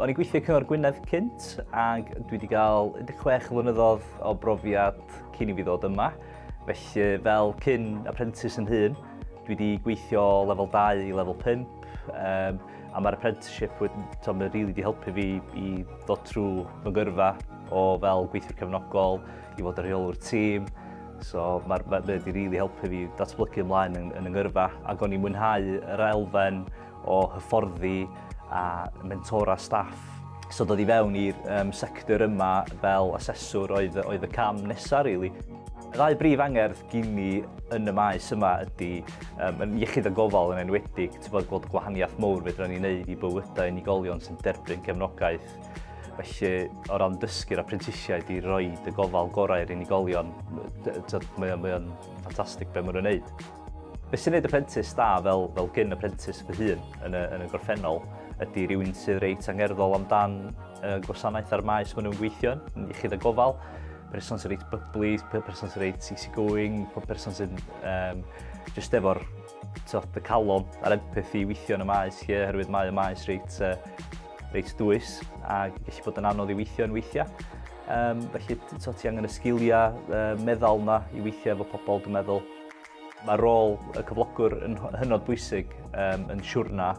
O'n i'n gweithio Cyngor Gwynedd cynt ac dwi wedi cael 16 flynyddoedd o brofiad cyn i fi ddod yma. Felly fel cyn apprentice yn hun, dwi wedi gweithio lefel 2 i lefel 5 um, a mae'r apprenticeship wedi really wedi helpu fi i ddod trwy fy gyrfa o fel gweithiwr cefnogol, I fod yn rheolwr tîm, so mae ma, ma wedi rili helpu fi datblygu ymlaen yn, yn yngyrfa ac o'n i'n mwynhau yr elfen o hyfforddi a mentora staff. So dod i fewn i'r um, sector yma fel aseswr oedd, oedd y cam nesaf, really. Y ddau brif angerdd gyn ni yn y maes yma ydy um, yn iechyd a gofal yn enwedig, ti'n bod gweld gwahaniaeth mowr fedra ni'n neud i bywydau unigolion sy'n derbyn cefnogaeth. gwaith. Felly, o ran dysgu'r apprentisiaid i roi y gofal gorau i'r unigolion, mae o'n ffantastig beth maen nhw'n gwneud. Beth sy'n gwneud apprentice da fel, fel gyn apprentice fy hun yn y, yn y gorffennol ydy rhywun sydd reit angerddol amdan y gwasanaeth a'r maes maen nhw'n gweithio yn iechyd a gofal. Person sy'n reit byblu, person sy'n reit easy going, person sy'n um, just efo'r y calon a'r empath i weithio yn y maes lle, oherwydd mae y maes reit uh, reit dwys a gallu bod yn anodd i weithio yn weithiau. Um, felly so, ti angen y sgiliau uh, meddal yna i weithio efo pobl, dwi'n meddwl. Mae rôl y cyflogwr yn hynod bwysig um, yn siwrna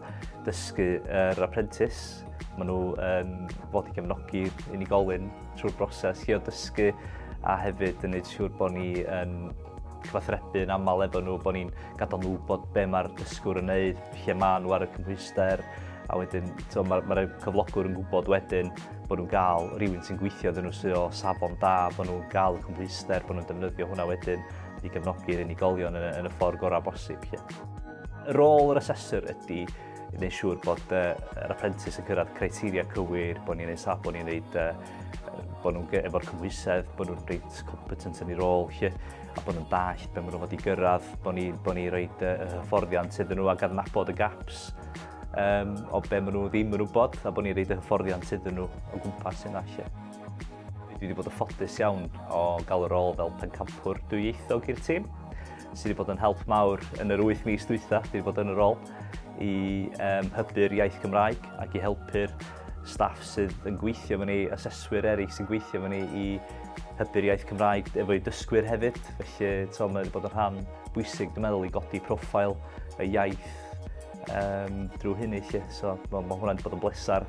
dysgu yr uh, apprentice. Maen nhw yn um, fod i gefnogi unigolyn trwy'r broses lle o dysgu a hefyd yn gwneud siŵr bod ni yn cyfathrebu yn aml efo nhw, bod ni'n gadael nhw bod be mae'r dysgwr yn neud, lle maen nhw ar y cymhwysedd. hyder, a wedyn to, mae, mae cyflogwr yn gwybod wedyn bod nhw'n gael rhywun sy'n gweithio dyn nhw sy'n o safon da, bod nhw'n gael y cymhwyster, bod nhw'n defnyddio hwnna wedyn i gefnogi'r unigolion yn, yn y ffordd gorau bosib. Lle. Y rôl yr asesor ydy wneud siŵr bod uh, yr apprentice yn cyrraedd criteria cywir, bod ni'n ei saf, bod ni'n neud, uh, bod nhw'n efo'r cymhwysedd, bod nhw'n reit competent yn ei rôl. Lle. a bod yn dallt be maen nhw fod i gyrraedd, bod ni, bod ni roi y hyfforddiant iddyn nhw ac adnabod y gaps um, o be maen nhw ddim yn wybod a bod ni roi y hyfforddiant iddyn nhw o gwmpas yna lle. Dwi wedi bod yn ffodus iawn o gael y rôl fel pencampwr dwyieithog i'r tîm sydd wedi bod yn help mawr yn yr 8 mis dwytha, wedi bod yn y rôl i um, hybu'r iaith Gymraeg ac i helpu'r staff sydd yn gweithio efo ni, aseswyr eraill sy'n gweithio efo ni i hybu'r iaith Cymraeg efo'i dysgwyr hefyd. Felly, to, mae wedi bod yn rhan bwysig, dwi'n meddwl, i godi profil y iaith um, drwy hynny. Lle. So, mae, mae hwnna wedi bod yn bleser.